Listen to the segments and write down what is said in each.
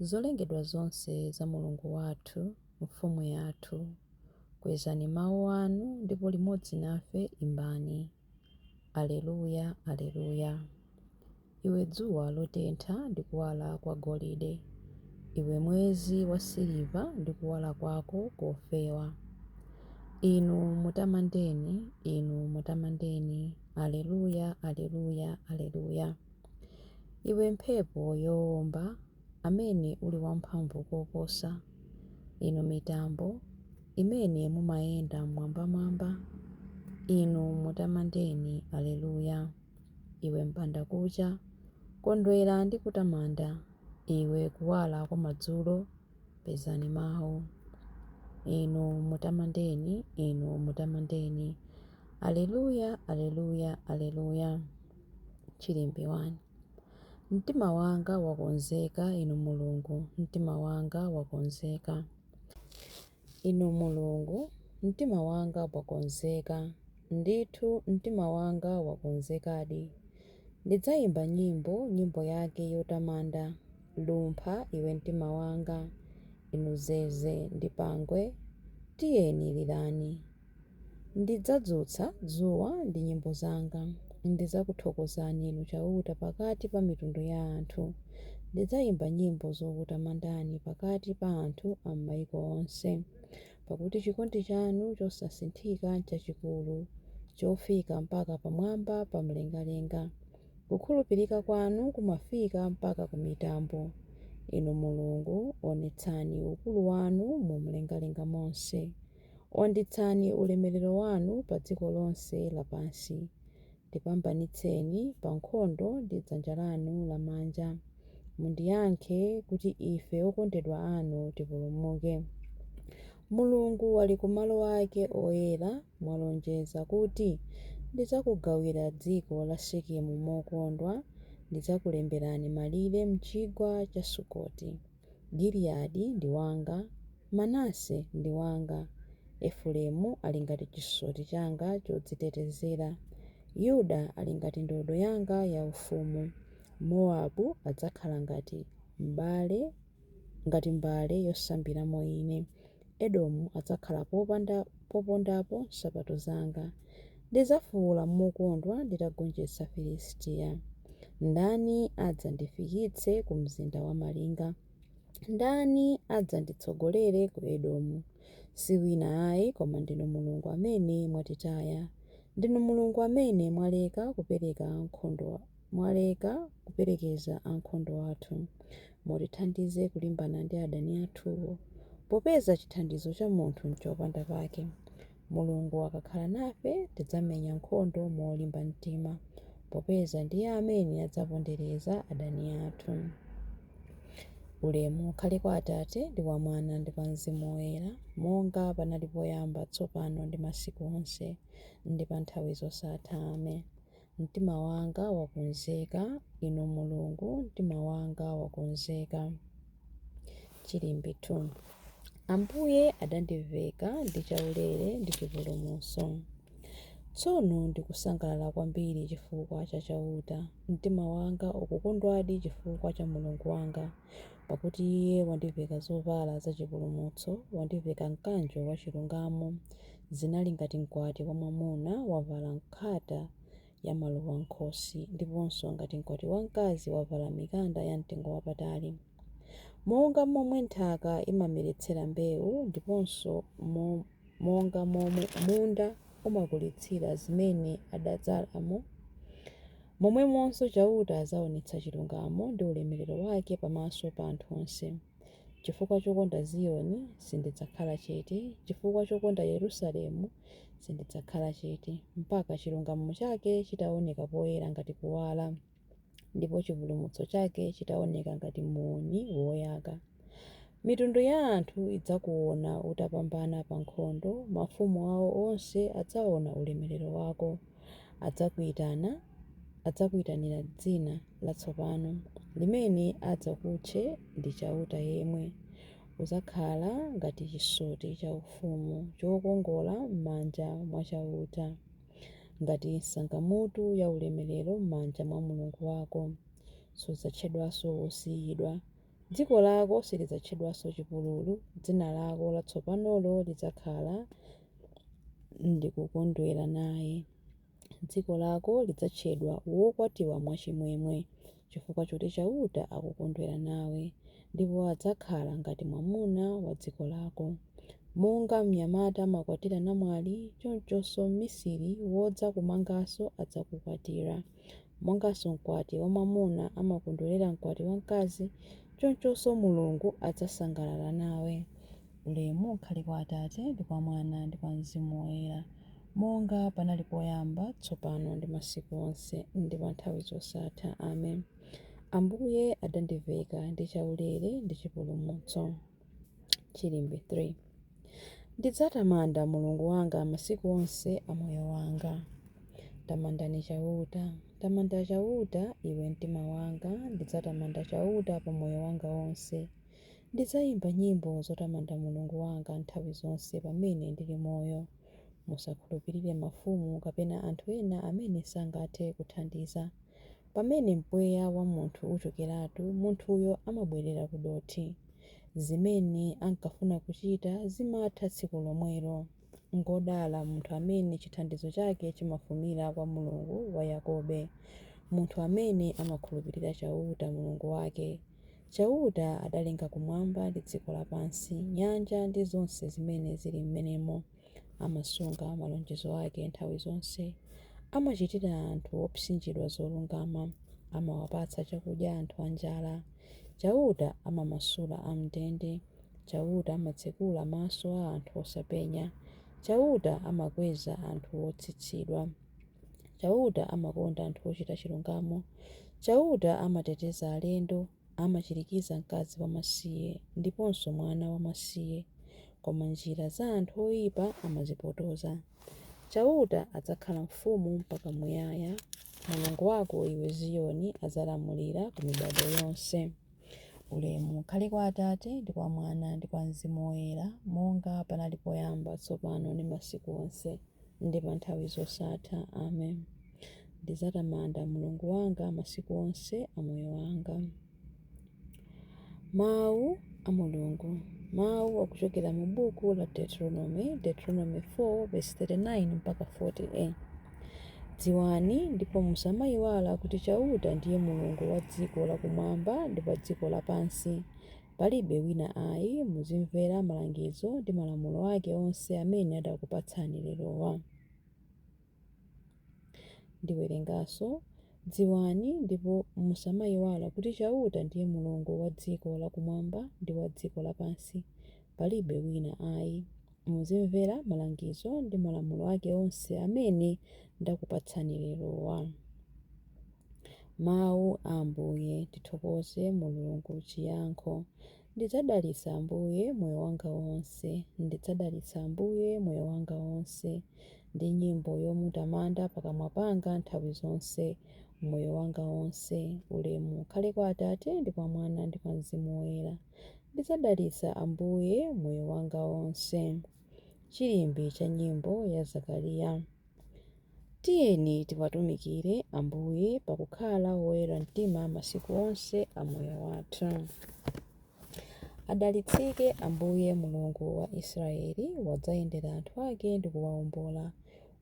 Zolengedwa zonse za Mulungu wathu, Mfumu yathu, kwezani mawu anu ndipo limodzi nafe imbani, Aleluya, Aleluya. Iwe dzuwa lotentha ndi kuwala kwa golide, iwe mwezi wa siliva ndi kuwala kwako kofewa, Inu mutamandeni, Inu mutamandeni, Aleluya, Aleluya, Aleluya. Iwe mphepo yowomba, amene uli wamphamvu koposa, inu mitambo, imene mumayenda m'mwambamwamba, inu mutamandeni. Aleluya. Iwe m'bandakucha, kondwera ndi kutamanda. Iwe kuwala kwa madzulo, pezani mawu. Inu mutamandeni, inu mutamandeni. Aleluya, aleluya, aleluya. Chilimbi 1. Mtima wanga wakonzeka, Inu Mulungu, mtima wanga wakonzeka. Inu Mulungu, mtima wanga wakonzeka, ndithu mtima wanga wakonzekadi. Ndidzayimba nyimbo, nyimbo yake yotamanda. Lumpha, iwe mtima wanga. Inu zeze ndi pangwe, tiyeni lirani. Ndidzadzutsa dzuwa ndi nyimbo zanga. Ndidzakuthokozani Inu Chauta pakati pa mitundu ya anthu. Ndidzaimba nyimbo zokutamandani pakati pa anthu a m'maiko onse. Pakuti chikondi chanu chosasinthika nchachikulu, chofika mpaka pamwamba pa mlengalenga. Kukhulupirika kwanu kumafika mpaka ku mitambo. Inu Mulungu, onetsani ukulu wanu mu mlengalenga monse. Wanditsani ulemerero wanu pa dziko lonse lapansi, tipambanitseni pa nkhondo ndi dzanja lanu lamanja, mundiyankhe, kuti ife okondedwa anu tipulumuke. Mulungu ali ku malo ake oyera, mwalonjeza kuti, Ndidzakugawira dziko la Sekemu mokondwa, ndidzakulemberani malire m'chigwa cha Sukoti. Giliyadi ndi wanga, Manase ndi wanga. Efuremu ali ngati chisoti changa chodzitetezera. Yuda ali ngati ndodo yanga yaufumu. Mowabu adzakhala ngati mbale, ngati mbale yosambiramo ine. Edomu adzakhala popondapo nsapato zanga. Ndidzafuula mokondwa nditagonjetsa Filistiya. Ndani adzandifikitse ku mzinda wamalinga? Ndani adzanditsogolere ku Edomu? Si wina ayi koma ndinu Mulungu amene mwatitaya. Ndinu Mulungu amene mwaleka kupereka ankhondo. Mwaleka kuperekeza ankhondo athu. Mutithandize kulimbana ndi adani athuwo. Popeza chithandizo cha munthu n'chopanda pake, Mulungu akakhala nafe tidzamenya nkhondo molimba mtima, popeza ndiye amene adzapondereza adani athu. Ulemu ukhale kwa Atate, ndi kwa Mwana, ndi kwa mzimu woyera, monga panali poyamba, tsopano ndi masiku onse, ndi pa nthawi zosatha. Amen. Mtima wanga wakonzeka, Inu Mulungu, mtima wanga wakonzeka. Chilimbi 2 Ambuye adandiveka ndi chaulere ndi chipulumutso. Tsono ndikusangalala kwambiri chifukwa cha Chauta. Mtima wanga ukukondwadi chifukwa cha Mulungu wanga, pakuti Iye wandiveka zovala zachipulumutso, wandiveka mkanjo wachilungamo. Zinali ngati mkwati wamwamuna wavala nkhata ya maluwa m'khosi ndiponso ngati mkwati wamkazi wavala mikanda yamtengo wapatali. Monga momwe nthaka imameretsera mbewu ndiponso monga momwe munda umakulitsira zimene adadzalamo, momwemonso Chauta adzaonetsa chilungamo ndi ulemerero wake pamaso pa anthu onse. Chifukwa chokonda Ziyoni, sindidzakhala chete, chifukwa chokonda Yerusalemu, sindidzakhala chete, mpaka chilungamo chake chitaoneka poyera ngati kuwala, ndipo chipulumutso chake chitaoneka ngati muuni woyaka. Mitundu ya anthu idzakuona utapambana pa nkhondo, mafumu awo onse adzaona ulemerero wako. Adzakuitana, adzakuitanira dzina. latsopano limene adzakutche ndi Chauta yemwe. Udzakhala ngati chisoti chaufumu chokongola m'manja mwa Chauta, ngati nsangamutu yaulemerero m'manja mwa Mulungu wako. Sudzatchedwanso Wosiyidwa. Dziko lako silidzatchedwanso Chipululu, dzina lako latsopanolo lidzakhala Ndikukondwera Naye. Dziko lako lidzatchedwa wokwatiwa mwachimwemwe, chifukwa choti Chauta akukondwera nawe, ndipo adzakhala ngati mwamuna wa dziko lako. Monga mnyamata amakwatira namwali, chonchonso mmisiri wodzakumanganso adzakukwatira. Monganso mkwati wamwamuna amakondwerera mkwati wamkazi, chonchonso Mulungu adzasangalala nawe. Ulemu ukhale kwa Atate, ndi kwa Mwana, ndi kwa Mzimu Woyera, monga panali poyamba, tsopano, ndi masiku onse, ndi pa nthawi zosatha. Amen. Ambuye adandiveka ndi chaulere ndi chipulumutso. Chilimbi 3 Ndidzatamanda Mulungu wanga masiku onse a moyo wanga. Tamandani Chauta. Tamanda Chauta, iwe mtima wanga, ndidzatamanda Chauta pa moyo wanga wonse. Ndidzaimba nyimbo zotamanda Mulungu wanga nthawi zonse pamene ndili moyo. Musakhulupirire mafumu kapena anthu ena amene sangathe kuthandiza. Pamene mpweya wa munthu uchokeratu, munthuyo amabwerera kudothi. Zimene ankafuna kuchita zimatha tsiku lomwelo. Ngwodala munthu amene chithandizo chake chimafumira kwa Mulungu wa Yakobe, munthu amene amakhulupirira Chauta, Mulungu wake. Chauta adalenga kumwamba ndi dziko lapansi, nyanja ndi zonse zimene zili m'menemo. Amasunga malonjezo ake nthawi zonse. Amachitira anthu opsinjidwa zolungama, amawapatsa chakudya anthu anjala. Chauta amamasula am'ndende. Chauta amatsekula maso a anthu osapenya. Chauta amakweza anthu otsitsidwa. Chauta amakonda anthu ochita chilungamo. Chauta amateteza alendo. Amachirikiza mkazi wamasiye ndiponso mwana wamasiye. Koma njira za anthu oipa amazipotoza. Chauta adzakhala mfumu mpaka muyaya. Mulungu wako, iwe Ziyoni, adzalamulira ku mibado yonse. Ulemu ukhale kwa Atate, ndi kwa Mwana, ndi kwa Mzimu Woyera, monga panali poyamba, tsopano, ndi masiku onse, ndi pa nthawi zosatha. Amen. Ndidzatamanda Mulungu wanga masiku onse a moyo wanga. Mawu a Mulungu. Mawu akuchokera mu buku la Deuteronomy, Deuteronomy 4 verse 39 mpaka 40a. Dziwani ndipo musamayiwala kuti Chauta ndiye Mulungu wa dziko lakumwamba ndi pa dziko lapansi. Palibe wina ayi. Muzimvera malangizo ndi malamulo ake onse amene adakupatsani lerowa. Ndiwerenganso, Dziwani ndipo musamayiwala kuti Chauta ndiye Mulungu wa dziko lakumwamba ndi wa dziko lapansi. Palibe wina ayi. Muzimvera malangizo ndi malamulo ake onse amene ndakupatsani lerowa. Mawu a Ambuye Tithokoze Mulungu Chiyankho Ndidzadalitsa Ambuye moyo wanga wonse, ndidzadalitsa Ambuye moyo wanga wonse, ndi nyimbo yomutamanda pakamwa panga nthawi zonse. Moyo wanga wonse, ulemu ukhale kwa Atate, ndi kwa Mwana, ndi kwa Mzimu Woyera. Ndidzadalitsa Ambuye moyo wanga wonse. Chilimbi cha nyimbo ya Zakariya. Tiyeni tiwatumikire Ambuye pakukhala woyera mtima masiku onse a moyo wathu. Adalitsike Ambuye Mulungu wa Israeli, wadzayendera anthu ake ndi kuwaombola.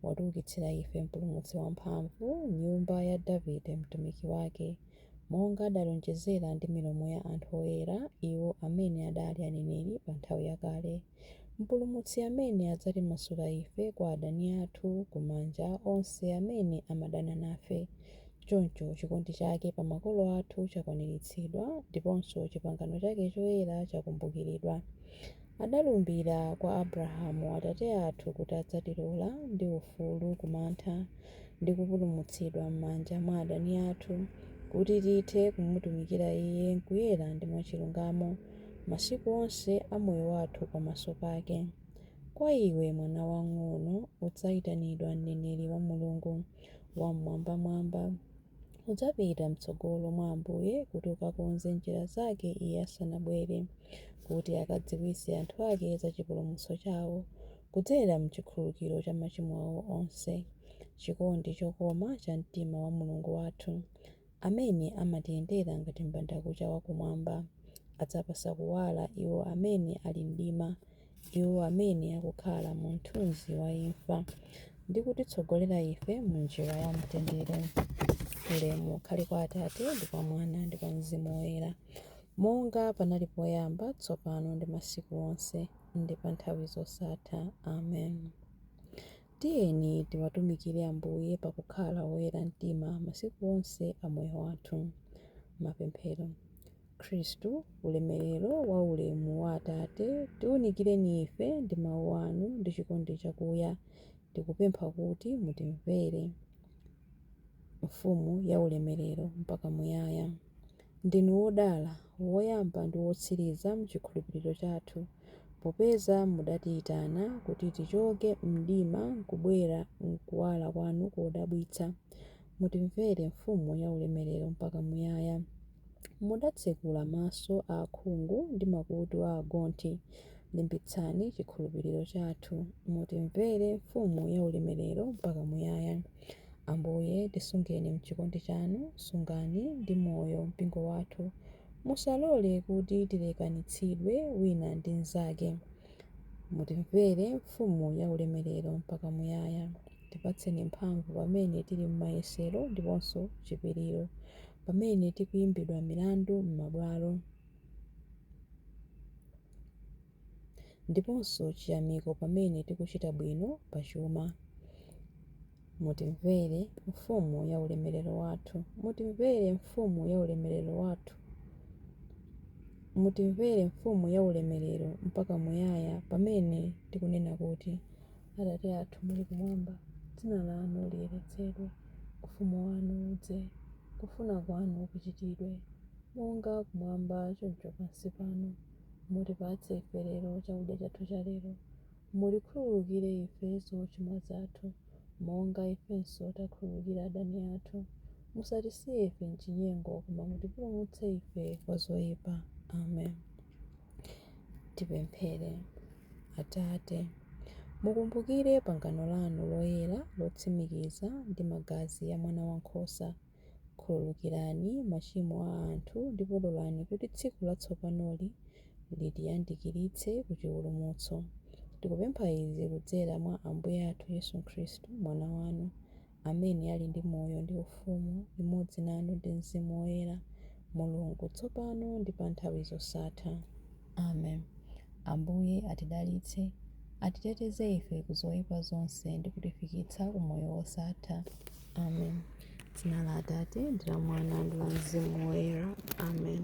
Watiukitsira ife mpulumutsi wamphamvu, m'nyumba ya Davide mtumiki wake. monga adalonjezera ndi milomo ya anthu oyera, iwo amene adali aneneri pa nthawi yakale, Mpulumutsi amene adzatimasula ife kwa adani athu, ku manja a onse amene amadana nafe. Choncho, chikondi chake pa makolo athu chakwaniritsidwa, ndiponso chipangano chake choyera chakumbukiridwa. Adalumbira kwa Abrahamu atate athu kuti adzatilola ndi ufulu ku mantha ndi kupulumutsidwa m'manja mwa adani athu, kuti tithe kumutumikira Iye m'kuyera ndi mwachilungamo masiku onse a moyo wathu pamaso pake. Kwa iwe, mwana wang'ono, udzaitanidwa mneneri wa Mulungu Wam'mwambamwamba. Udzapita m'tsogolo mwa Ambuye kuti ukakonze njira zake Iye asanabwere, kuti akadziwitse anthu ake za chipulumutso chawo, kudzera m'chikhululukiro cha machimo awo onse, chikondi chokoma cha mtima wa Mulungu wathu, amene amatiyendera ngati mbandakucha wa kumwamba, adzapatsa kuwala iwo amene ali m'mdima, iwo amene akukhala mu mthunzi wa imfa, ndi kutitsogolera ife mu njira ya mtendere. Ulemu ukhale kwa Atate, ndi kwa Mwana, ndi kwa Mzimu Woyera, monga panali poyamba, tsopano, ndi masiku onse, ndi pa nthawi zosatha. Amen. Tiyeni tiwatumikire Ambuye pakukhala oyera mtima masiku onse a moyo wathu. Mapemphero. Khristu, ulemerero wa ulemu wa Atate, tiunikireni ife ndi Mawu anu ndi chikondi chakuya, tikupempha kuti mutimvere. Mfumu ya ulemerero mpaka muyaya, ndinu wodala, woyamba ndi wotsiriza m'chikhulupiriro chathu, popeza mudatiyitana kuti tichoke m'mdima n'kubwera m'kuwala kwanu kodabwitsa, Mutimvere Mfumu yaulemerero mpaka muyaya. Mudatsekula maso a akhungu ndi makutu a agonthi. Limbitsani chikhulupiriro chathu. Mutimvere Mfumu yaulemerero mpaka muyaya. Ambuye, tisungeni m'chikondi chanu, sungani ndi moyo mpingo wathu. Musalole kuti tilekanitsidwe wina ndi mnzake. Mutimvere Mfumu yaulemerero mpaka muyaya. Tipatseni mphamvu pamene tili m'mayesero ndiponso chipiriro, pamene tikuimbidwa milandu m'mabwalo, ndiponso chiyamiko pamene tikuchita bwino pa chuma. Mutimvere, Mfumu ya ulemerero wathu. Mutimvere, Mfumu ya ulemerero wathu. Mutimvere, Mfumu ya ulemerero, mpaka muyaya, pamene tikunena kuti. Atate athu muli kumwamba, dzina lanu liyeretsedwe, ufumu wanu udze, kufuna kwanu kuchitidwe, monga kumwamba choncho pansi pano. Mutipatse ife lero chakudya chathu cha lero. Mutikhululukire ife zochimwa zathu, monga ifenso takhululukira adani athu. Musatisiye ife m'chinyengo, koma mutipulumutse ife kwa zoyipa. Amen. Tipemphere. Atate, mukumbukire pangano lanu loyera lotsimikiza ndi magazi a Mwana Wankhosa. Khululukirani machimo a anthu ndipo lolani kuti tsiku latsopanoli litiyandikiritse ku chipulumutso. Tikupempha izi kudzera mwa Ambuye athu Yesu Khristu, Mwana wanu, amene ali ndi moyo ndi ufumu limodzi nanu ndi Mzimu Woyera, Mulungu, tsopano ndi pa nthawi zosatha. Amen. Ambuye atidalitse, atiteteze ife ku zoipa zonse ndi kutifikitsa ku moyo wosatha. Amen. Dzina la Atate ndi la Mwana ndi la Mzimu Woyera. Amen.